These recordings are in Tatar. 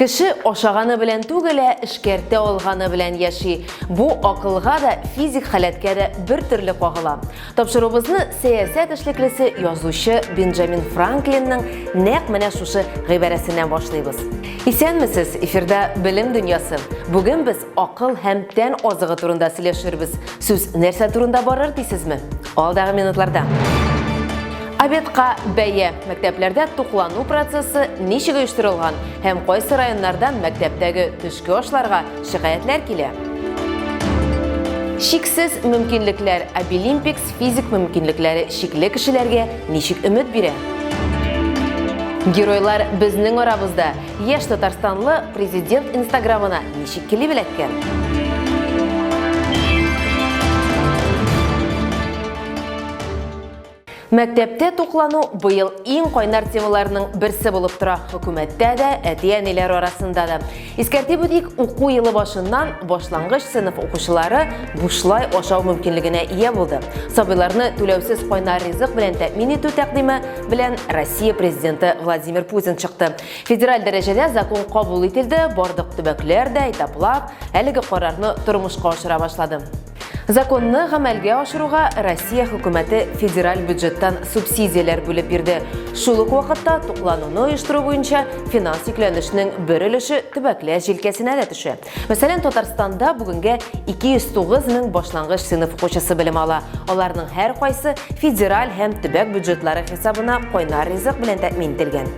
Кеше ашаганы белән түгел, ә эшкәртә алганы белән яши. Бу акылга да, физик халәткә дә бер төрле кагыла. Тапшырубызны сәясәт эшлеклесе, язучы Бенджамин Франклинның нәкъ менә шушы гыйбарәсеннән башлыйбыз. Исәнмесез, эфирда Белем дөньясы. Бүген без Акыл һәм тән азыгы турында сөйләшербез. Сүз нәрсә турында барыр дисезме? Алдагы минутларда. Обедка бәя. Мәктәпләрдә туклану процессы ничек оештырылган һәм кайсы районнардан мәктәптәге төшке ашларга шикаятьләр килә? Шиксез мөмкинлекләр Обилимпикс физик мөмкинлекләре шикле кешеләргә ничек өмет бирә? Геройлар безнең арабызда. Яшь татарстанлы президент инстаграмына ничек килеп эләккән? Мәктәптә туклану быел иң кайнар темаларның берсе булып тора. Хөкүмәттә дә, әти-әниләр арасында да. Искәртеп үтик, уку елы башыннан башлангыч сыйныф укучылары бушлай ашау мөмкинлегенә ия булды. Сабыйларны түләүсез кайнар ризык белән тәэмин итү тәкъдиме белән Россия президенты Владимир Путин чыкты. Федераль дәрәҗәдә закон кабул ителде, бардык төбәкләр дә этаплап әлеге карарны тормышка ашыра башлады. Законны гамәлгә ашыруга Россия хөкүмәте федераль бюджеттан субсидияләр бүлеп бирде. Шул ук вакытта туклануны оештыру буенча финанс йөкләнешнең бер өлеше төбәкләр җилкәсенә дә төшә. Мәсәлән, Татарстанда бүгенгә 209 мең башлангыч сыйныф укучысы белем ала. Аларның һәркайсы федераль һәм төбәк бюджетлары хисабына кайнар ризык белән тәэмин ителгән.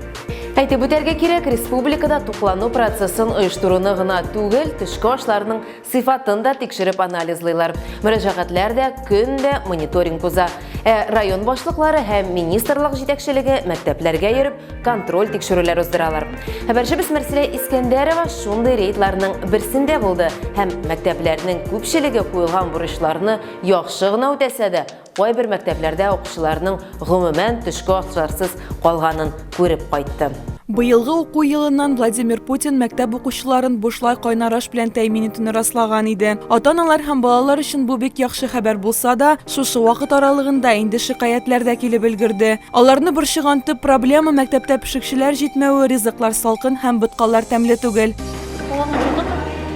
Әйтеп үтәргә кирәк, республикада туклану процессын оештыруны гына түгел, төшке ашларның сыйфатын да тикшереп анализлыйлар. Мөрәҗәгатьләр дә көн дә мониторинг уза. Ә район башлыклары һәм министрлык җитәкчелеге мәктәпләргә йөреп, контроль тикшерүләр уздыралар. Хәбәрчебез Мәрсилә Искәндәрова шундый рейдларның берсендә булды һәм мәктәпләрнең күпчелеге куелган бурычларны яхшы гына үтәсә дә, кайбер мәктәпләрдә укучыларның гомумән төшке ашларсыз калганын күреп кайтты. Быелгы уку елыннан Владимир Путин мәктәп укучыларын бушлай кайнар аш белән тәэмин итүне раслаган иде. Ата-аналар һәм балалар өчен бу бик яхшы хәбәр булса да, шушы вакыт аралыгында инде шикаятьләр дә килеп өлгерде. Аларны борчыган төп проблема мәктәптә пешекчеләр җитмәве, ризыклар салкын һәм боткалар тәмле түгел.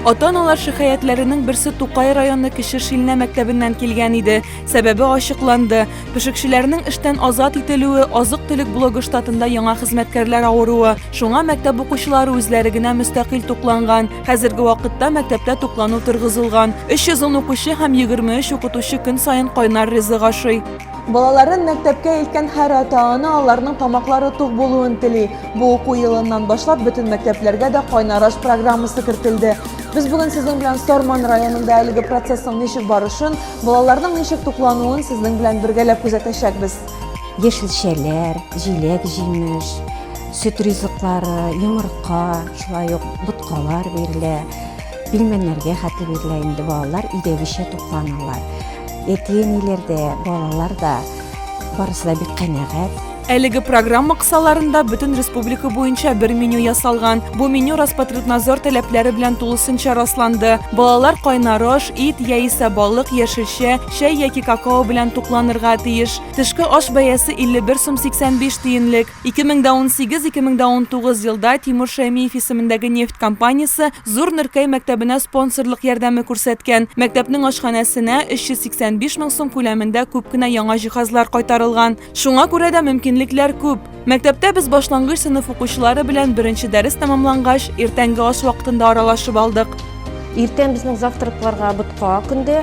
Ата-аналар шикаятьләренең берсе Тукай районы Кече Шилнә мәктәбеннән килгән иде. Сәбәбе ачыкланды. Пешекчеләрнең эштән азат ителүе, азык-төлек блогы штатында яңа хезмәткәрләр авыруы. Шуңа мәктәп укучылары үзләре генә мөстәкыйль тукланган. Хәзерге вакытта мәктәптә туклану торгызылган. 310 укучы һәм 23 укытучы көн саен кайнар ризык ашый. Балаларын мәктәпкә илткән һәр ата-ана аларның тамаклары тук булуын тели. Бу уку елыннан башлап бөтен мәктәпләргә дә кайнар аш программасы кертелде. Без бүген сезнең белән Сарман районында әлеге процессның ничек барышын, балаларның ничек туклануын сезнең белән бергәләп күзәтәчәкбез. Яшелчәләр, җиләк-җимеш, сөт ризыклары, йомырка, шулай ук боткалар бирелә. Пилмәннәргә хәтле бирелә инде балалар өйдәгечә тукланалар. Әти-әниләр дә, балалар да барысы да бик канәгать. Әлеге программа кысаларында бөтен республика буенча бер меню ясалган. Бу меню Роспотребнадзор таләпләре белән тулысынча расланды. Балалар кайнар аш, ит яисә балык, яшелчә, чәй яки какао белән тукланырга тиеш. Тышкы аш бәясе 51 сум 85 тиенлек. Ике мең дә унсигез, ике мең дә унтугыз елда Тимур Шәймиев исемендәге нефть компаниясе Зур Нөркәй мәктәбенә спонсорлык ярдәме күрсәткән. Мәктәпнең ашханәсенә 385 мең сум күләмендә күп кенә яңа җиһазлар кайтарылган. Шуңа күрә дә мөмкинлекләр күп. Мәктәптә без башлангыч сыйныф укучылары белән беренче дәрес тәмамлангач, иртәнге аш вакытында аралашып алдык. Иртән безнең завтракларга ботка көнде.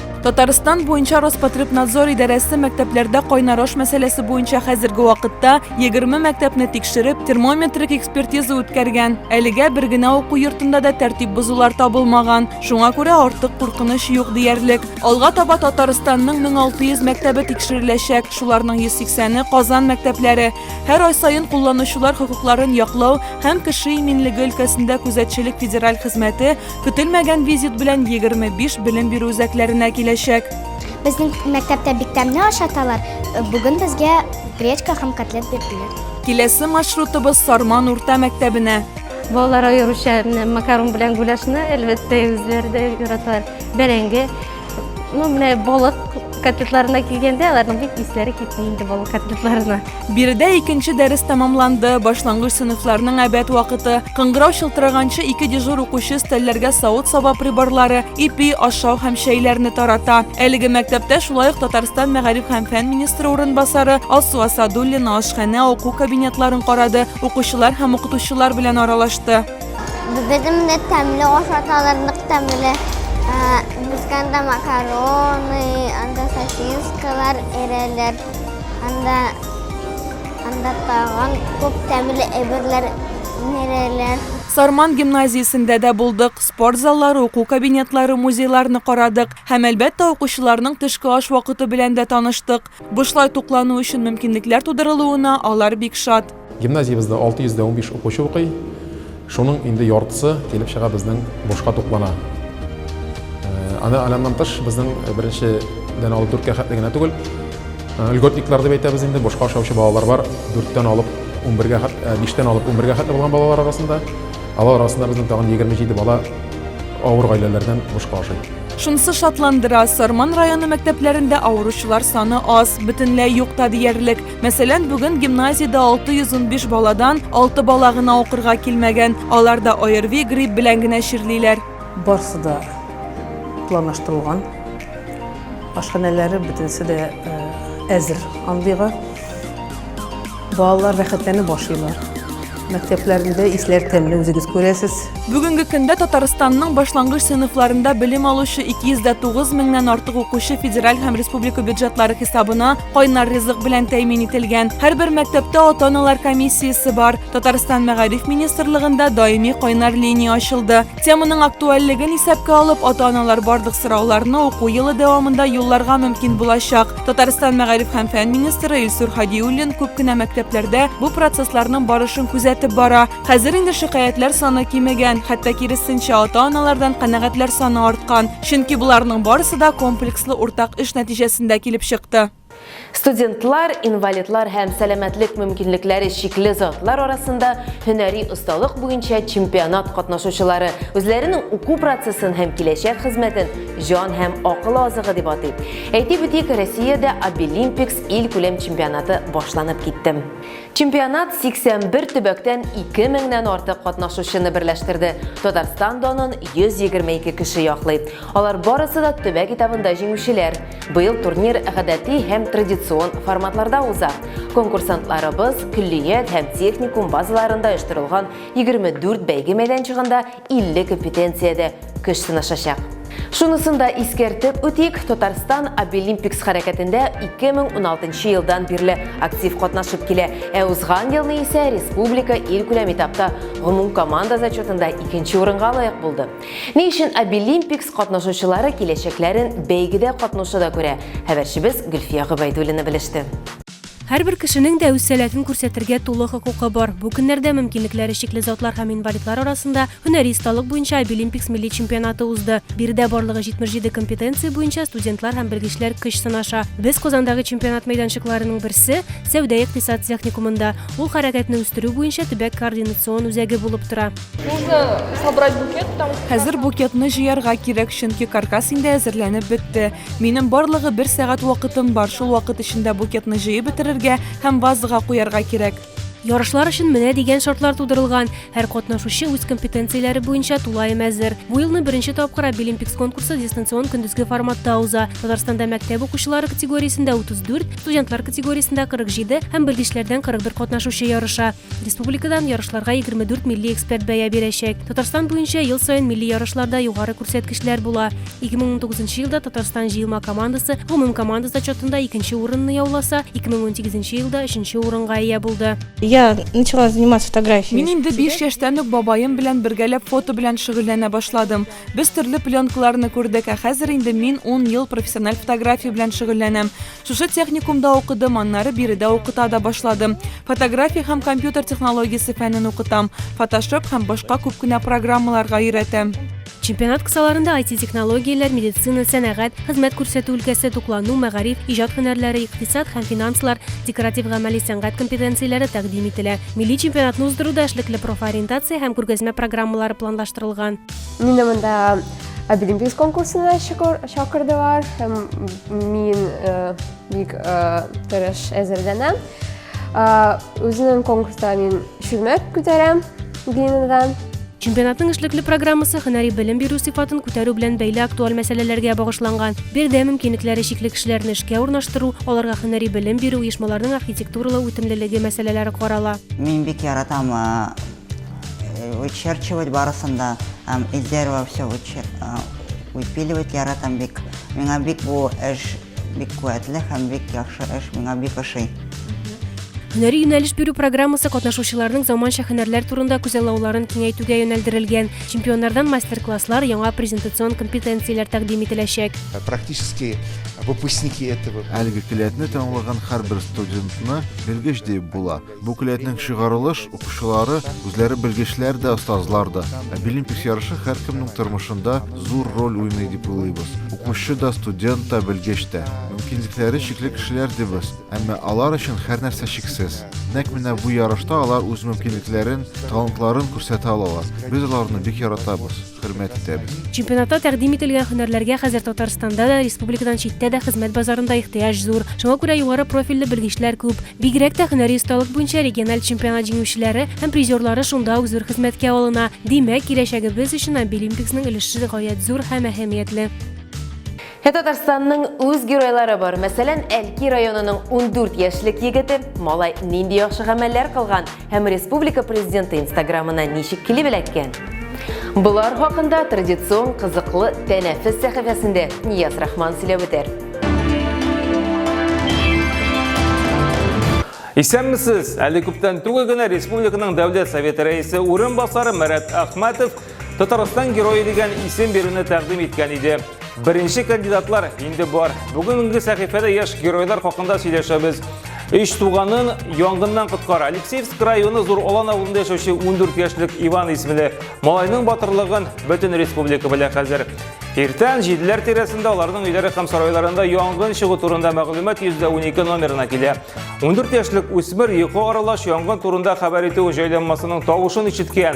Татарстан буенча Роспотребнадзор идарәсе мәктәпләрдә кайнар аш мәсьәләсе буенча хәзерге вакытта 20 мәктәпне тикшереп, термометрик экспертиза үткәргән. Әлегә бер генә уку йортында да тәртип бозулар табылмаган. Шуңа күрә артык куркыныч юк диярлек. Алга таба Татарстанның 1600 мәктәбе тикшереләчәк. Шуларның 180-е Казан мәктәпләре. Һәр ай саен кулланучылар хокукларын яклау һәм кеше иминлеге өлкәсендә күзәтчелек федераль хезмәте Көтелмәгән визит белән 25 белем бирү үзәкләренә киләчәк. Безнең мәктәптә бик тәмле ашаталар. Бүген безгә гречка һәм котлет бирделәр. Киләсе маршрутыбыз Сарман урта мәктәбенә. Балалар аеруча макарон белән гуляшны, әлбәттә, үзләре дә яраталар. Бәрәңге, Ну, менә балык котлетларына килгәндә, аларның бик исләре китми инде балык котлетларына. Биредә икенче дәрес тәмамланды. Башлангыч сыйныфларның әбәт вакыты. Кыңгырау шылтыраганчы ике дежур укучы стәлләргә савыт-саба приборлары, ипи, ашау һәм чәйләрне тарата. Әлеге мәктәптә шулай ук Татарстан мәгариф һәм фән министры урынбасары Алсу Асадуллина ашханә, уку кабинетларын карады, укучылар һәм укытучылар белән аралашты. Бездә тәмле ашаталар, нык тәмле. Бусканда макароны, анда сосискалар, эрелер. Анда анда тагын күп тәмле әйберләр нереләр. Сарман гимназиясендә дә булдык. Спорт заллары, уку кабинетлары, музейларны карадык. Һәм, әлбәттә, укучыларның төшке аш вакыты белән дә таныштык. Бушлай туклану өчен мөмкинлекләр тудырылуына алар бик шат. Гимназиябездә 615 укучы укый. Шуның инде яртысы килеп чыга безнең бушка туклана. Аны аляннан тыш безнең беренче дән алып дүрткә хәтле генә түгел. Льготниклар дип әйтәбез инде, бушка ашаучы балалар бар. Дүрттән алып 11-гә хәтле, биштән алып 11-гә хәтле булган балалар арасында. Алар арасында безнең тагын 27 бала авыр гаиләләрдән бушка ашый. Шунысы шатландыра, Сарман районы мәктәпләрендә авыручылар саны аз, бөтенләй юк та диярлек. Мәсәлән, бүген гимназиядә 615 баладан 6 бала гына укырга килмәгән. Алар да ОРВИ, грипп белән генә чирлиләр. Барысы да планлаштырылган. Ашханәләре бөтенесе дә э, әзер андыйга. Балалар рәхәтләнеп ашыйлар. Мәктәпләрендә исләр тәмле, үзегез күрәсез. Бүгенге көндә Татарстанның башлангыч сыйныфларында белем алучы 209 меңнән артык укучы федераль һәм республика бюджетлары хисабына кайнар ризык белән тәэмин ителгән. Һәрбер мәктәптә ата-аналар комиссиясе бар. Татарстан Мәгариф министрлыгында даими кайнар линия ачылды. Теманың актуальлеген исәпкә алып, ата-аналар барлык сорауларны уку елы дәвамында юлларга мөмкин булачак. Татарстан мәгариф һәм фән министры Илсур Хадиуллин күп кенә мәктәпләрдә бу процессларның барышын күзәтеп бара. Хәзер инде шикаятьләр саны кимегән, хәтта киресенчә ата-аналардан канәгатьләр саны арткан. Чөнки боларның барысы да комплекслы уртак эш нәтиҗәсендә килеп чыкты. Студентлар, инвалидлар һәм сәламәтлек мөмкинлекләре чикле затлар арасында һөнәри осталык буенча чемпионат катнашучылары үзләренең уку процессын һәм киләчәк хезмәтен җан һәм акыл азыгы дип атый. Әйтеп үтик, Россиядә Абилимпикс ил күләм чемпионаты башланып китте. Чемпионат 81 төбәктән 2 меңнән артык катнашучыны берләштерде. Татарстан данын 122 кеше яклый. Алар барысы да төбәк этабында җиңүчеләр. Быел турнир гадәти һәм традицион форматларда уза. Конкурсантларыбыз көллият һәм техникум базаларында оештырылган 24 бәйге мәйданчыгында 50 компетенциядә көч сынашачак. Шунысын да искәртеп үтик, Татарстан Обилимпикс хәрәкәтендә 2016 елдан бирле актив катнашып килә, ә узган елны исә республика илкүләм этапта гомумкоманда зачетында икенче урынга лаек булды. Ни өчен Обилимпикс катнашучылары киләчәкләрен бәйгедә катнашуда күрә, хәбәрчебез Гөлфия Гобәйдуллина белеште. Һәрбер кешенең дә үз сәләтен күрсәтергә тулы хокукы бар. Бу көннәрдә мөмкинлекләре чикле затлар һәм инвалидлар арасында һөнәри осталык буенча Обилимпикс милли чемпионаты узды. Биредә барлыгы 77 компетенция буенча студентлар һәм белгечләр көч сынаша. Без Казандагы чемпионат мәйданчыкларының берсе, сәүдә-икътисад техникумында. Ул хәрәкәтне үстерү буенча төбәк координацион үзәге булып тора. Нужно собрать букет, потому что. Хәзер букетны җыярга кирәк, чөнки каркас инде әзерләнеп бетте. Минем барлыгы бер сәгать вакытым бар, шул вакыт эчендә букетны җыеп бетерергә һәм вазага куярга кирәк. Ярышлар өчен менә дигән шартлар тудырылган. Һәр катнашучы үз компетенцияләре буенча тулаем әзер. Бу елны беренче тапкыр Обилимпикс конкурсы дистанцион көндезге форматта уза. Татарстанда мәктәп укучылары категориясендә 34, студентлар категориясендә 47 һәм белгечләрдән 41 катнашучы ярыша. Республикадан ярышларга 24 милли эксперт бәя бирәчәк. Татарстан буенча ел саен милли ярышларда югары күрсәткечләр була. 2019 елда Татарстан җыелма командасы гомум команда зачетында икенче урынны яуласа, 2018 елда өченче урынга ия булды. Я начала заниматься фотографией. Мин инде 5 яшьтән үк бабаем белән бергәләп фото белән шөгыльләнә башладым. Без төрле пленкаларны күрдек, ә хәзер инде мин 10 ел профессиональ фотография белән шөгыльләнәм. Шушы техникумда укыдым, аннары биредә укыта да башладым. Фотография һәм компьютер технологиясе фәнен укытам, фотошоп һәм башка күп кенә программаларга өйрәтәм. Чемпионат кысаларында IT-технологияләр, медицина, сәнәгать, хезмәт күрсәтү өлкәсе, туклану, мәгариф, иҗат һөнәрләре, икътисад һәм финанслар, декоратив-гамәли сәнгать компетенцияләре тәкъдим ителә. Милли чемпионатны уздыруда эшлекле профориентация һәм күргәзмә программалары планлаштырылган. Мине монда Абилимпикс конкурсына чакырдылар һәм мин бик тырыш әзерләнәм. Үзенең конкурста мин чүлмәк күтәрәм бинадан. Чемпионатның эшлекле программасы һөнәри белем бирү сыйфатын күтәрү белән бәйле актуаль мәсьәләләргә багышланган. Биредә мөмкинлекләре чикле кешеләрне эшкә урнаштыру, аларга һөнәри белем бирү, оешмаларның архитектуралау үтемлелеге мәсьәләләре карала. Мин бик яратам вычерчивать барысын да һәм из дерева все вычер выпиливать яратам бик миңа бик бу эш бик куәтле һәм бик яхшы эш миңа бик ошый Һөнәри юнәлеш бирү программасы катнашучыларның заманча һөнәрләр турында күзаллауларын киңәйтүгә юнәлдерелгән. Чемпионнардан мастер-класслар, яңа презентацион компетенцияләр тәкъдим ителәчәк. Практически выпускники этого. Әлеге келәтне таңлаган һәрбер студентны белгеч диеп була. Бу келәтнең чыгарылыш укучылары үзләре белгечләр дә, остазлар да. Ә Билимпис ярышы һәркемнең тормышында зур роль уйный дип уйлыйбыз. Укучы да, студент та, белгеч тә. Мөмкинлекләре чикле кешеләр дибез, әмма алар өчен һәрнәрсә чиксез. Нәкъ менә бу ярышта алар үз мөмкинлекләрен, талантларын күрсәтә алалар. Без аларны бик яратабыз. хөрмәттән. Чемпионатта тәкъдим ителгән һөнәрләргә хәзер Татарстанда да, республикадан читтә дә хезмәт базарында ихтыяҗ зур. Шуңа күрә югары профильле белгечләр күп. Бигрәк тә һөнәри осталык буенча региональ чемпионат җиңүчеләре һәм призерлары шунда ук зур хезмәткә алына. Димәк, киләчәгебез өчен Обилимпиксның өлеше гаять зур һәм әһәмиятле. Ә Татарстанның үз геройлары бар. Мәсәлән, Әлки районының 14 яшьлек егете малай нинди яхшы гамәлләр кылган һәм республика президенты инстаграмына ничек килеп эләккән? Болар хакында традицион кызыклы тәнәфес сәхифәсендә Нияз Рахман сөйләп үтәр. Исәнмесез! Әле күптән түгел генә республиканың дәүләт советы рәисе урынбасары Марат Ахматов Татарстан герое дигән исем бирүне тәкъдим иткән иде. Беренче кандидатлар инде бар. Бүгенге сәхифәдә яшь геройлар хакында сөйләшәбез. Өч туганын янгыннан коткара. Алексеевск районы Зур Алан авылында яшәүче 14 яшьлек Иван исемле малайның батырлыгын бөтен республика белә хәзер. Иртән җиделәр тирәсендә аларның өйләре һәм сарайларында янгын чыгу турында мәгълүмат 112 номерына килә. 14 яшьлек үсмер йокы аралаш янгын турында хәбәр итү җайланмасының тавышын ишеткән.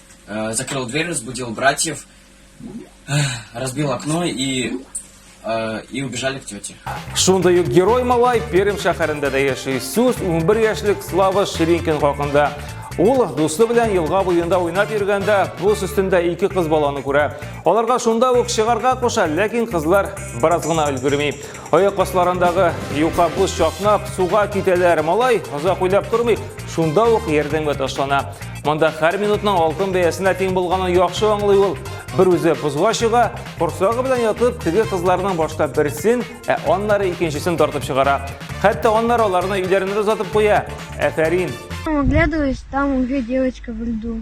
Э, закрыл дверь, разбудил братьев, э, разбил окно и э, и убежали к тете. Шундай ук герой малай Пермь шәһәрендә дә яши. Сүз 11 яшьлек Слава Ширинкин хакында. Ул дусты белән елга буенда уйнап йөргәндә бус өстендә ике кыз баланы күрә. Аларга шунда ук чыгарга куша, ләкин кызлар бераз гына өлгерми. Аяк асларындагы юка боз чакнап, суга китәләр. Малай, озак уйлап тормыйк, шунда ук ярдәмгә ташлана. Монда һәр минутның алтын бәясенә тиң булганын яхшы аңлый ул. Бер үзе бозга чыга, корсагы белән ятып, теге кызларның башта берсен, ә аннары икенчесен тартып чыгара. Хәтта аннары аларны өйләренә дә озатып куя. Әфәрин! Оглядываюсь, там уже девочка в льду.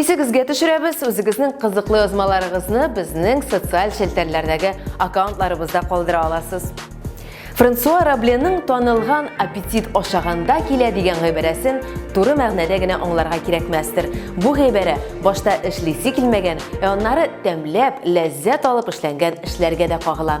Исегезгә төшерәбез, үзегезнең кызыклы язмаларыгызны безнең социаль челтәрләрдәге аккаунтларыбызда калдыра аласыз. Франсуа Рабленың танылган аппетит ашаганда килә дигән гыйбарәсен туры мәгънәдә генә аңларга кирәкмәстер. Бу гыйбарә башта эшлисе килмәгән, ә аннары тәмләп, ләззәт алып эшләнгән эшләргә дә кагыла.